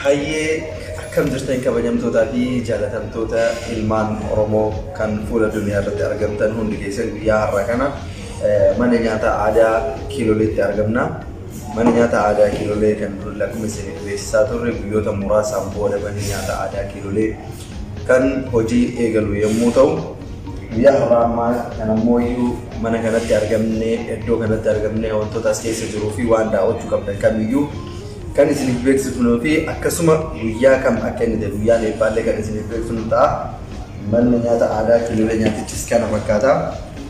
Hayyee akkam jirtan kabajamtootaa fi jaalatamtoota ilmaan Oromoo kan fuula duniyaa irratti argamtan hundi keessan guyyaa har'a kana eh, mana nyaataa aadaa Kiiloleetti argamna. Mana nyaataa aadaa Kiilolee kan dur lakkoofsa beeksisaa turre guyyoota muraasaan booda mana nyaataa aadaa Kiilolee kan hojii eegalu yommuu ta'u guyyaa har'aa ammaa kan ammoo iyyuu mana kanatti argamne iddoo kanatti argamne wantoota as keessa jiruu fi waan daawwachuu qabdan kamiyyuu kan isiniif beeksifnuu fi akkasuma guyyaa kam akka inni ta'e guyyaan eebbaallee kan isiniif beeksifnu ta'a. Manni nyaata aadaa kiilolee nyaatichis kana fakkaata.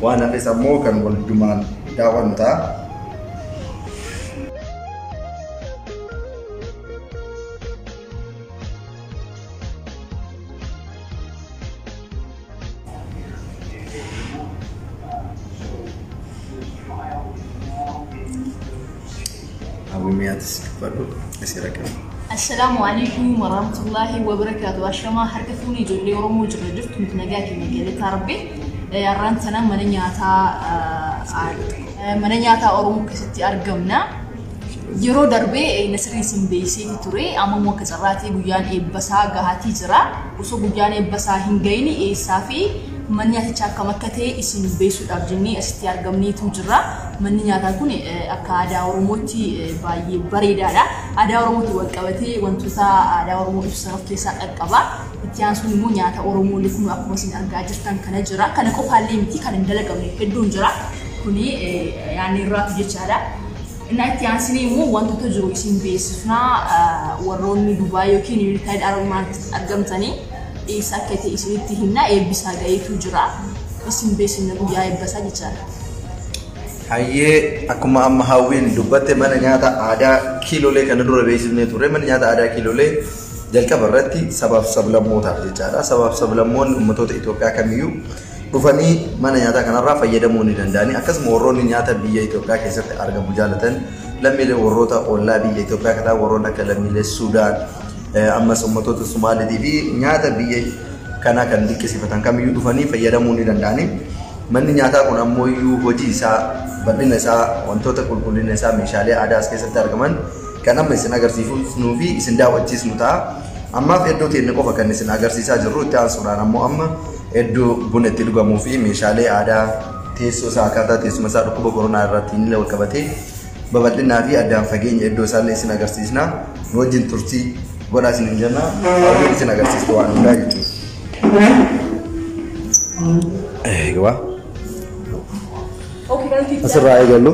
Waan hafes ammoo kan waldumaan daawwannu ta'a. Abumiyatis dubbadhu asii raqame. Assalaamu alaikum warahmatullaahi wabarakaatu. Ashamaa harka fuunee ijoollee Oromoo jirra jirtu nuti nagaa keenya galataa rabbi. Har'aan sana mana nyaataa mana nyaataa Oromoo keessatti argamna. Yeroo darbe Nasiriin isin beeksiseeti ture. Amma immoo akka carraatii guyyaan eebbasaa gahaatii jira. Osoo guyyaan eebbasaa hin gahin eessaa fi manni nyaatichaa akkam akka ta'e isin beeksisuudhaaf jennee asitti argamneetu jirra. Manni nyaataa kun akka aadaa Oromootti baay'ee bareedaadha. Aadaa Oromootiin wal qabatee wantoota aadaa Oromoo ibsan of keessaa qaqqaba. Itti aansuun immoo nyaata Oromoollee kun akkuma isin argaa jirtan kana jira. Kana qofaallee miti kan hin dalagamne hedduun jira. Kuni yaanni irraatu jechaadha. Innaa itti aansinee immoo wantoota jiru isin beeksifnaa warroonni Dubaay yookiin Yuunaayitid Arab Imaaraatitti argamtanii eessa akka ta'e isinitti himna eebbisaa gaheetu jira isin beeksifna guyyaa eebbasaa jechaadha. Hayyee akkuma amma hawwiin dubbatte mana nyaata aadaa kiilolee kana dura beeksifnee turre mana nyaata aadaa kiilolee jalqaba irratti sabaaf sablammootaaf jechaadha sabaaf sablammoonni ummatoota Itoophiyaa kamiyyuu dhufanii mana nyaataa kanarraa fayyadamuu ni danda'ani. Akkasuma warroonni nyaata biyya Itoophiyaa keessatti argamu jaalatan lammiilee warroota ollaa biyya Itoophiyaa akka ta'an warroonni akka lammiilee Sudaan eh, ammas ummatoota Somaaliitii fi nyaata biyya kanaa kan dinqisiifatan kamiyyuu dhufanii fayyadamuu ni danda'ani. Manni nyaataa kun ammoo iyyuu hojii isaa bal'ina isaa wantoota qulqullina isaa meeshaalee aadaa as keessatti argaman kan amma isin agarsiifnuu fi isin daawwachiisnu ta'a. Ammaaf iddoo teenne qofa kan isin agarsiisaa jirru itti aansuudhaan ammoo amma hedduu buna itti dhugamuu fi meeshaalee aadaa teessoo isaa akkaataa teessuma isaa dhukkuba koronaa irratti inni wal qabatee babal'inaa fi addaan fageenya iddoo isaallee isin agarsiisna nu wajjin turtii godhaa isin hin jenna hawwiin isin agarsiistu waan hundaa jechuudha. Egaa asirraa eegallu.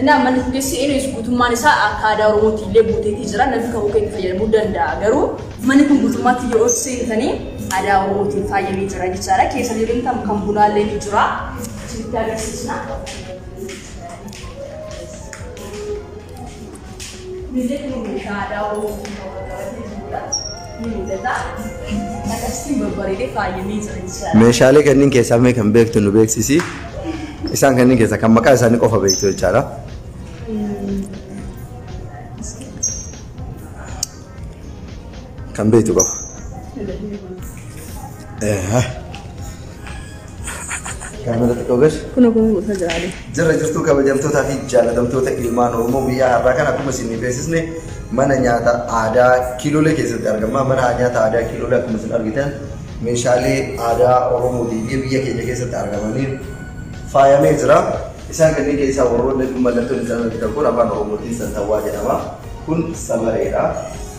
Innaa manni fuggeessi eenyus guutummaan isaa akka aadaa Oromootti illee guuteetii jira. Namni kakuu keenya fayyadamuu danda'a. Garuu manni kun guutummaatti yoo seentanii aadaa Oromootiin faayamee jira jechaadha. Keessa yoo deemtan kan bunaa illee ni jira. Isinitti agarsiisna. Misilli kun meeshaa aadaa Oromoo keessaa wal qabatee jirudha. Ni mul'ata. Akkasittiin babbareedee faayamee jira jechaadha. Meeshaalee kanneen keessaa mee kan beektu nu beeksisi. Isaan kanneen keessaa kan maqaa isaanii qofa beektu jechaadha. Kan beektu qofa. Eehaa. Gaamela xiqqoo gad. Kun ogummaa gosa jiraalee. Jirra jirtuu kabajamtootaa fi jaalatamtoota ilmaan Oromoo guyyaa har'aa kana akkuma isin beeksisne mana nyaata aadaa Kiiloolee keessatti argama. Mana nyaata aadaa Kiiloolee akkuma isin argitan meeshaalee aadaa Oromoo fi biyya keenya keessatti argamaniin faayamee jira. Isaan kanneen keessaa warroonni kun mallattoon isaan argitan kun afaan Oromootiin santawwaa jedhama. Kun samareedha.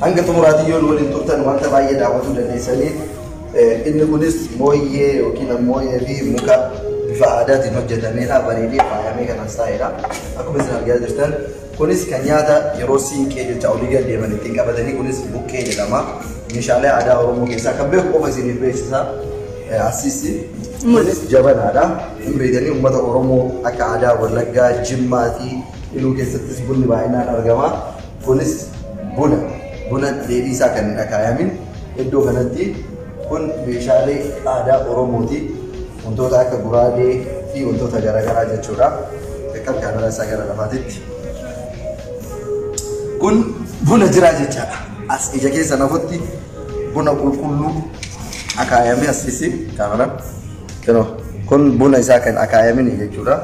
Hanga xumuraatiin yoo nu waliin turtan wanta baay'ee daawwachuu dandeessaniif inni kunis mooyyee yookiin mooyyee fi muka bifa aadaatiin hojjetameedha bareedee faayamee kan as taa'eedha. Akkuma isin argaa jirtan kunis kan nyaata yeroo siinqee jecha olii gad deeman ittiin qabatanii kunis buqqee jedhama. Meeshaalee aadaa Oromoo keessaa kan beeku qofa isiniif beeksisa. Asiisi kunis jabanaadha. Hin beekanii uummata Oromoo akka aadaa Wallaggaa, Jimmaa fi Iluu keessattis bunni baay'inaan argama. Kunis buna buna dheedhii isaa kan hin akaayamin iddoo kanatti kun meeshaalee aadaa Oromooti. Wantoota akka guraagee fi wantoota garaagaraa jechuudha. Beekan kaameraa isaa gara lafaatitti. Kun buna jiraa jechaadha. As ija keessa nafutti buna qulqulluu akaayamee as keessi kaameraa. Kun buna isaa kan akaayamin jechuudha.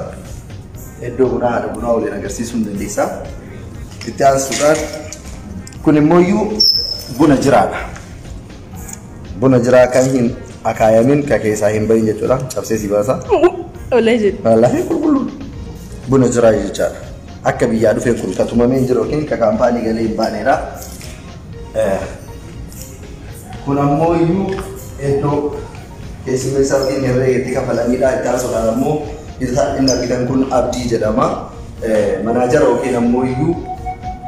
Iddoo bunaa haadha bunaa waliin agarsiisuu ni dandeessa. Itti aansuudhaan kun immoo iyyuu buna jiraadha. Buna jiraa kan hin akaayamin ka keessaa hin bahin jechuudha. Cabsee si baasa. Olee jedhu. Wallaahi qulqulluu buna jiraa jechaadha. Akka biyyaa dhufee kun ka tumamee hin jiru yookiin ka kaampaanii galee hin baaneedha. Eh, Kun ammoo iyyuu iddoo Keessummeessaa yookiin herreega itti kafalanidha. Itti aansuudhaan ammoo hidhataan inni argitan kun Abdii jedhama. Manaajara yookiin ammoo iyyuu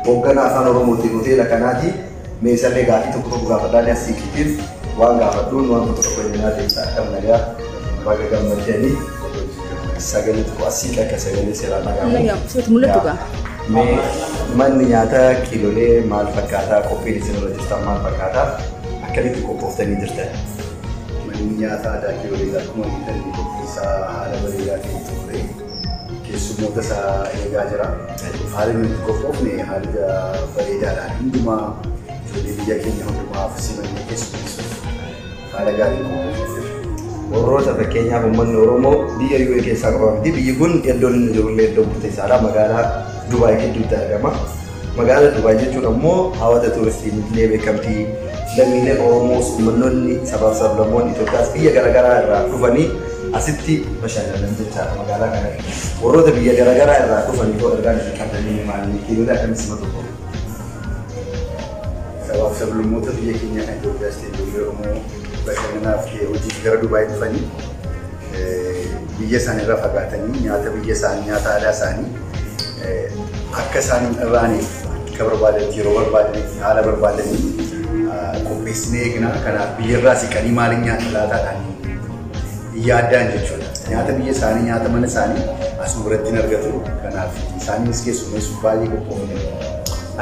hoogganaa afaan Oromootiin hoteela kanaati. Mee isallee gaafii tokko tokko gaafadhaa ni asiikiitiin waan gaafadhuun waan tokko tokko ilaalaa deemsa akka nagaa baga gammaddanii sagalee tokko asiik akka sagalee seeraa dhagahamu. Mul'atu gaa. Mee manni nyaataa kiilolee maal fakkaataa qophiin isin irra jirtan maal fakkaataa akkamitti qophooftanii jirtan? Manni nyaataa Adaakii Bareedaa akkuma argitan qophii isaa haala bareedaa ta'een xumuree keessummoota isaa eegaa jira. Haalli nuti itti qophoofne haala bareedaadhaan hundumaa ijoollee biyya keenya hundumaaf simannee keessummeessuuf haala gaariin qophoofne jira. Warroota fakkeenyaaf uummanni Oromoo biyya UAE keessaa qofa miti. Biyyi kun iddoon inni jirullee iddoo murteessaadha. Magaalaa Dubaay gidduutti argama. Magaala Dubaay jechuun ammoo hawata tuuristiin illee beekamti. Lammiileen Oromoos uummannoonni sabaaf sablammoonni Itoophiyaas biyya garaagaraa irraa dhufanii asitti bashannanan jechaadha magaalaa kana. Warroota biyya garaagaraa irraa dhufanii hoo ergaan isin qabdanii maali? Hiriira akkamii sima tokko? Sabaaf sablammoota biyya keenya kan Itoophiyaas ta'e ijoollee Oromoo bashannanaaf ta'e hojiif gara Dubaay dhufanii biyya isaanii irraa fagaatanii nyaata biyya isaanii nyaata aadaa isaanii akka isaan hin dhabaaneef akka barbaadanitti yeroo barbaadanitti haala barbaadaniin qopheessinee eegna. Kanaaf biyya irraa siqanii maaliin nyaata laataadhaan hin yaaddaan jechuudha. Nyaata biyya isaanii nyaata mana isaanii asuma biratti hin argatu. Kanaaf isaanis keessummeessuuf baay'ee qophoofne.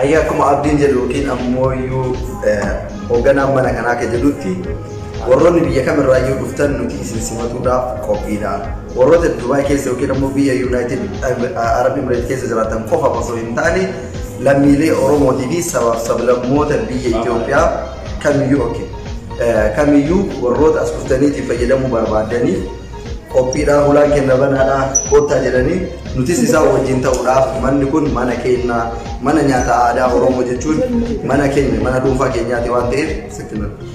Ayyaa akkuma abdiin jedhu yookiin ammoo iyyuu hoogganaan mana kanaa akka jedhutti Warroonni biyya kamirraayyuu dhuftan nuti isin simatuudhaaf qophiidha. Warroota Dubaay keessa yookiin ammoo biyya Yuunaayitid Arab Imireet keessa jiraatan qofaaf osoo hin taane lammiilee Oromootii fi sabaaf sablammoota biyya Itoophiyaa kamiyyuu ok kamiyyuu warroota as dhuftaniitii fayyadamuu barbaadaniif qophiidhaa hulaan kenna banaadhaa koottaa jedhanii nutis isaa wajjin ta'uudhaaf manni kun mana keenya mana nyaata aadaa Oromoo jechuun mana keenya mana dhuunfaa keenyaati waan ta'eef sitti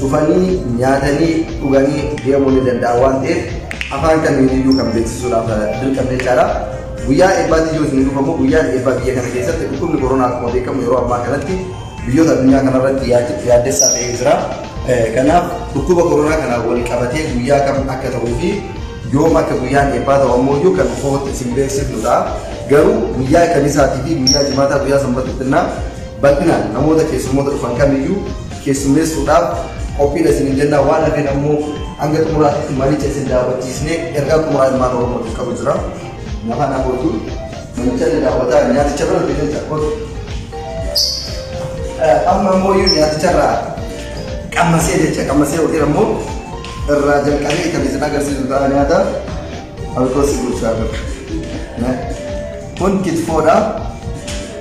dhufanii nyaatanii dhuganii deemuu ni danda'an waan ta'eef afaan kamiin iyyuu kan beeksisuudhaaf dirqamne jechaadha. Guyyaa eebbaatti yoo isin dhufamu guyyaan eebbaa biyya kana keessatti dhukkubni koronaa akkuma beekamu yeroo ammaa kanatti biyyoota addunyaa kanarratti yaaddessaa ta'ee jira. Kanaaf dhukkuba koronaa kanaan wal qabatee guyyaa kam akka ta'uu fi yoom akka guyyaan eebbaa ta'u ammoo iyyuu kan footti isin beeksifnu ta'a. Garuu guyyaa kamisaatii fi guyyaa jimaataa guyyaa sanbata xinnaa bal'inaan namoota keessummoota dhufan kamiyyuu keessummeessuudhaaf qophiidha isiniin jennaa waan hafeen ammoo hanga xumuraatti maricha isin daawwachiisnee ergaa xumuraa ilmaan oromootiif qabu jira. Nafaan Abootu namicha ni daawwataa nyaaticha bira deemuun takkootu. Amma ammoo iyyuu nyaaticha irraa qammasee jecha qammasee yookiin ammoo irraa jalqabee kan isin agarsiisu ta'a nyaata alkoosii bulchaa jiru. Kun kitfoodha.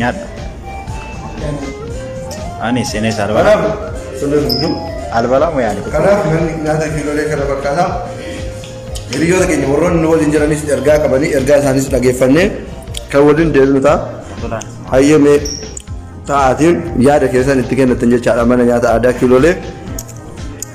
nyaadhu ani seenee isaa albalaa Kanaaf sirna dubduu. albalaa moo yaani Kanaaf namni nyaata kiiloolee kana fakkaata. Hiriyoota keenya warroonni nu waliin jiranis ergaa qabanii ergaa isaaniis dhageeffannee kan waliin deemnu ta'a. tolaan Hayyamee ta'aatiin yaada keessan itti kennatan jechaadha mana nyaata aadaa kiiloolee.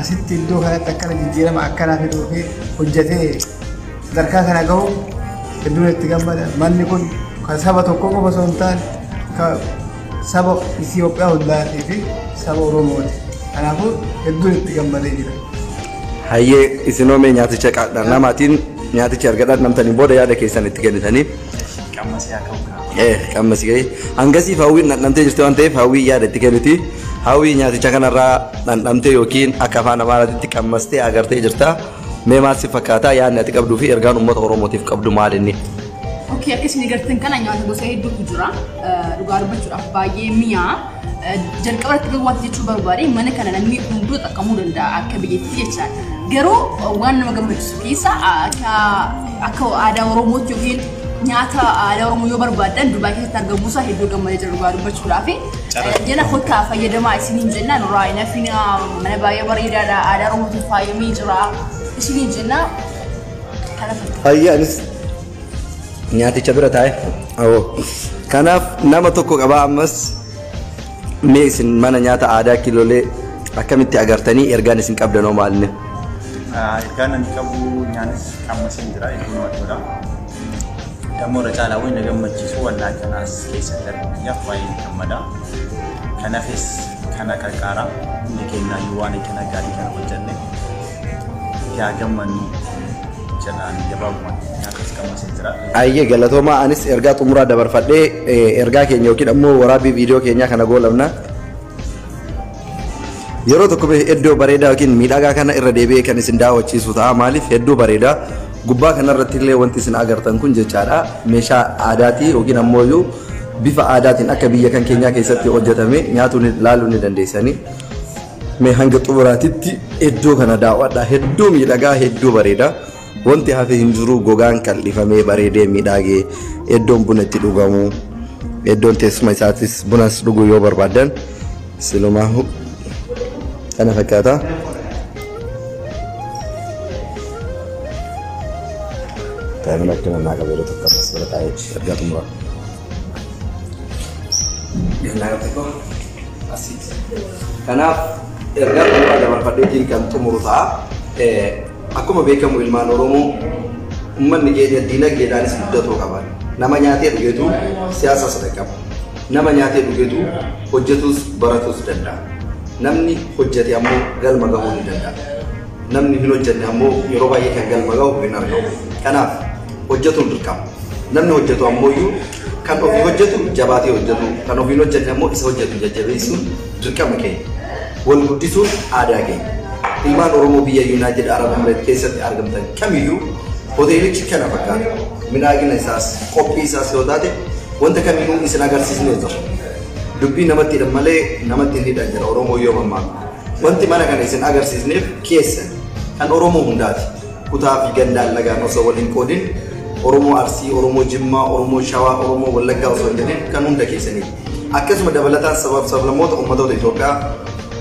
Asitti iddoo kanatti akkana jijjiirama akkanaa fiduu fi hojjetee sadarkaa kana gahu hedduun itti gammada. Manni kun kan saba tokko qofa osoo hin taane kan saba Itoophiyaa hundaatii fi saba Oromooti. Kanaafuu hedduun itti gammadee jira. Hayyee isinoo mee nyaaticha qaadhaa namaatiin nyaatichi argadhaa namtaniin booda yaada keessan itti kennitanii. Qammasii haa ka'u kaa. Eh, qammasii gahee. Hangasiif hawwiin dhandhamtee jirti waan ta'eef hawwii yaada itti kenniti. Hawwii nyaaticha kanarraa dhandhamtee yookiin akka afaan amaaraatitti qammastee agartee jirta. Mee maal si fakkaata yaadni ati qabduu fi ergaan uummata Oromootiif qabdu maal inni? Okkee akka isin agartan kana nyaata gosa hedduutu jira. Dhugaa dubbachuudhaaf baay'ee mi'aa. jalqaba irratti garuu wanti jechuu barbaade mana kana namni hunduu xaqqamuu danda'a akka biyyattii jechaan garuu waan nama gammachiisu keessa akka akka aadaa oromootti yookiin nyaata aadaa oromoo yoo barbaadan dubaay keessatti argamuu isaa hedduu gammadee jira dhugaa dubbachuudhaa fi jala kottaa fayyadamaa isiniin jennaan irraa hin hafina mana baay'ee bareedaadha aadaa oromootiin faayamee jira isiniin jennaa kana fakkaata. Fayyaa anis nyaaticha bira taa'e awoo kanaaf nama tokko qabaa ammas mee isin mana nyaata aadaa kilolee akkamitti agartanii ergaan isin qabdanoo maalinni Ergaan ani qabu nyaanis amma isin jira iddoo namatti tola. Dammoo irra caalaa wayii na gammachiisu wallaa kanaas keessa darbu biyyaaf baay'ee ni gammada. Kanaafis kana qarqaara hundi keenya yoo waan kana gaarii kana hojjenne itti haa gammannuu jedhaan gabaabumatti nyaata as qammasee jira. Ayyee galatoomaa anis ergaa xumuraa dabarfadhee eh, ergaa keenya yookiin ammoo waraabbii viidiyoo keenyaa kana goolabna. Yeroo tokko bee iddoo bareedaa yookiin miidhagaa kana irra deebi'ee kan isin daawwachiisu ta'a. Maaliif hedduu bareeda. Gubbaa kanarratti illee wanti isin agartan kun jechaadha. Meeshaa aadaatii yookiin ammoo iyyuu bifa aadaatiin akka biyya kan keenyaa keessatti hojjetame nyaatuu ni- ilaaluu ni dandeessanii. Mee hanga xumuraatitti iddoo kana daawwadhaa hedduu miidhagaa hedduu bareeda wanti hafe hin jiru gogaan qal'ifamee bareedee miidhagee iddoon buna itti dhugamu iddoon teessuma isaatis bunas dhuguu yoo barbaadan silumaa kana fakkaata. Daa'imman akkana naa qabu yeroo tokko ammas bira taa'ee ergaa xumuraa. Ganaa tokko asii. Kanaaf ergaa xumuraa dabarfadheetiin kan xumuru ta'a. Akkuma beekamu ilmaan Oromoo uummanni keenya diinagdeedhaanis guddatoo qaba. Nama nyaatee dhugetu siyaasas dhaqqaba. Nama nyaatee dhugetu hojjetus baratus danda'a. Namni hojjete ammoo galma gahuu ni danda'a. Namni hin hojjenne ammoo yeroo baay'ee kan galma gahu hin argamu. Kanaaf hojjetuun dirqama. Namni hojjetu ammoo iyyuu Kan ofii hojjetu jabaatee hojjetu, kan ofiin hojjenne ammoo isa hojjetu jajjabeessuun dirqama keenya. Wal guddisuun aadaa keenya. Ilmaan Oromoo biyya Yuunaayitid Arab Emireet keessatti argamtan kamiyyuu hoteelichi kana fakkaata. Midhaagina isaas, qophii isaas yoo taate wanta kamiinuu isin agarsiisnee jira. Dubbii namatti hidhan malee namatti hin hidhan jedha Oromoo yoo mammaaku. Wanti mana kana isin agarsiisneef keessan kan Oromoo hundaati. kutaa fi gandaan lagaan osoo wal hin qoodin Oromoo Arsii, Oromoo Jimmaa, Oromoo Shawaa, Oromoo Wallaggaa osoo hin jedhin kan hunda keessaniiti. Akkasuma dabalataan sabaaf sablammoota ummatoota Itoophiyaa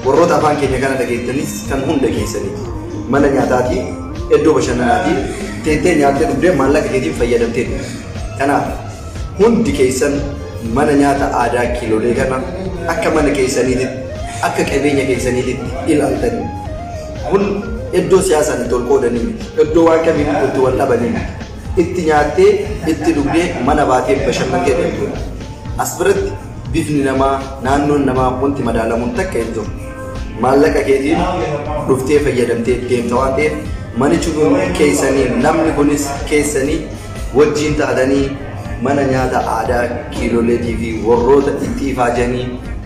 warroota afaan keenya kana dhageettanis kan hunda keessaniiti. Mana nyaataatii, iddoo bashannanaatii, teettee nyaattee dhugdee maallaqa keetiin fayyadamtee dhugde. Kanaaf hundi keessan mana nyaata aadaa kiilolee kana akka mana keessaniititti, akka qabeenya keessaniititti ilaaltanii Kun iddoo siyaasaan itti wal qoodanii miti. Iddoo waan kamiinuu itti wal dhabanii miti. Itti nyaattee, itti dhugdee, mana baatee bashannantee deemtuudha. As biratti bifni namaa, naannoon namaa wanti madaalamuun takka hin jiru. Maallaqa keetiin dhuftee fayyadamtee deemta waan ta'eef, manichuu kun keessanii, namni kunis keessanii, wajjiin taatanii mana nyaata aadaa Kiiloleetii fi warroota itti ifaajanii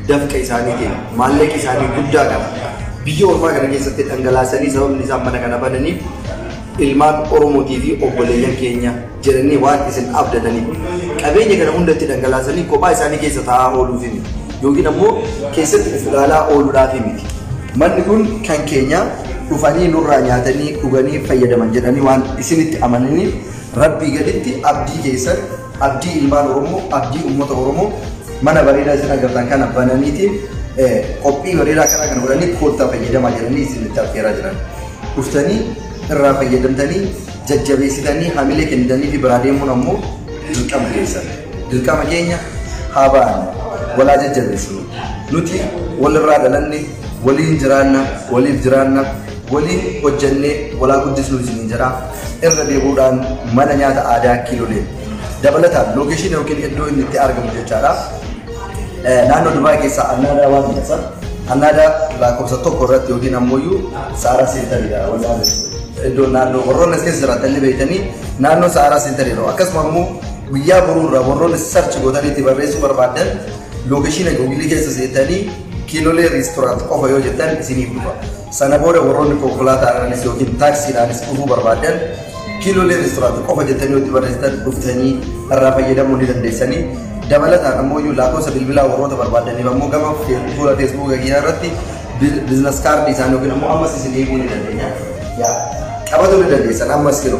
dafqa isaaniitiin maallaqi isaanii guddaa kana biyya ormaa kana keessatti dhangalaasanii sababni isaan mana kana bananiif ilmaan Oromootii fi obboleeyyan keenya jedhanii waan isin abdataniif qabeenya kana hunda itti dhangalaasanii kophaa isaanii keessa taa'aa ooluufi miti. yookiin ammoo keessatti of ilaalaa ooluudhaaf miti. Manni kun kan keenya dhufanii nurraa nyaatanii dhuganii fayyadaman jedhanii waan isinitti amananiif Rabbii gaditti abdii keessan, abdii ilmaan Oromoo, abdii uummata Oromoo mana bareedaa isin agartan kana bananiitiin qophii bareedaa kanaa kana godhanii koottaa fayyadamaa jedhanii isinitti affeeraa jiran. Dhuftanii irraa fayyadamtanii jajjabeessitanii hamilee kennitanii fi biraa deemuun ammoo dirqama keessan. Dirqama keenya haa baanu, wal haa jajjabeessinu. Nuti walirraa dhalanne, waliin jiraanna, waliif jiraanna, waliin hojjennee wal haa guddisnu isiniin jedha. Irra deebi'uudhaan mana nyaata aadaa Kiilolee dabalataan lookeeshiina yookiin iddoo inni itti argamu jechaadha. Naannoo Dubaay keessaa Annaadaa waan jedhasa. Annaadaa lakkoofsa tokko irratti yookiin ammoo iyyuu Saaraa Seentariidha wallaanis. Iddoo naannoo warroonni as keessa jiraatan ni beektanii naannoo Saaraa Seentariidha. Akkasuma immoo Guyyaa boruu irraa warroonni search gootanii itti barreessuu barbaaddan lookeshiina Google keessa seentanii Kiilolee Restaurant qofa yoo jettan isiniif dhufa. Sana booda warroonni konkolaataadhaanis yookiin taaksiidhaanis dhufuu barbaaddan Kiilolee Restaurant qofa jettanii yoo itti barreessitan dhuftanii irraa fayyadamuu ni dandeessanii. Dabalataan ammoo iyyuu lakkoofsa bilbilaa warroota barbaaddaniif ammoo gama fuula Facebook kiyyaa irratti business card isaanii yookiin ammoo ammas isin eeguu ni dandeenya. Yaa qabatu ni dandeessan ammas kilo.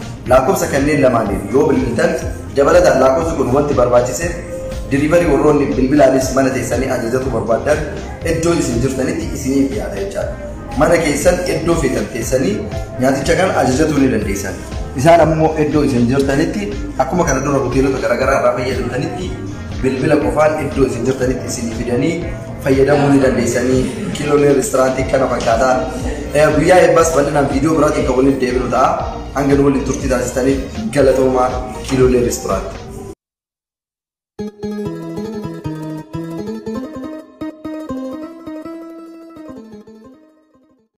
Laakkofsa kanneen lamaaniif yoo bilbiltan dabalataan laakkofsi kun wanti barbaachiseef delivery warroonni bilbilaanis mana teessanii ajajatu barbaaddan iddoo isin jirtanitti isiniif dhiyaata jechaadha. Mana keessan iddoo feetan teessanii nyaaticha kana ajajatuu ni dandeessan. Isaan ammoo iddoo isin jirtanitti akkuma kana dura hoteelota garaagaraa irraa fayyadamtanitti bilbila qofaan iddoo isin jirtanitti isinii fidanii fayyadamuu ni dandeessanii kiloonii reesturaantii kana fakkaata. Eh, Guyyaa eebbaas bal'inaan viidiyoo biraatiin kan waliin deebinu ta'a. Hanga nu waliin turtii taasistaniif galatoomaa kiloonii reesturaantii.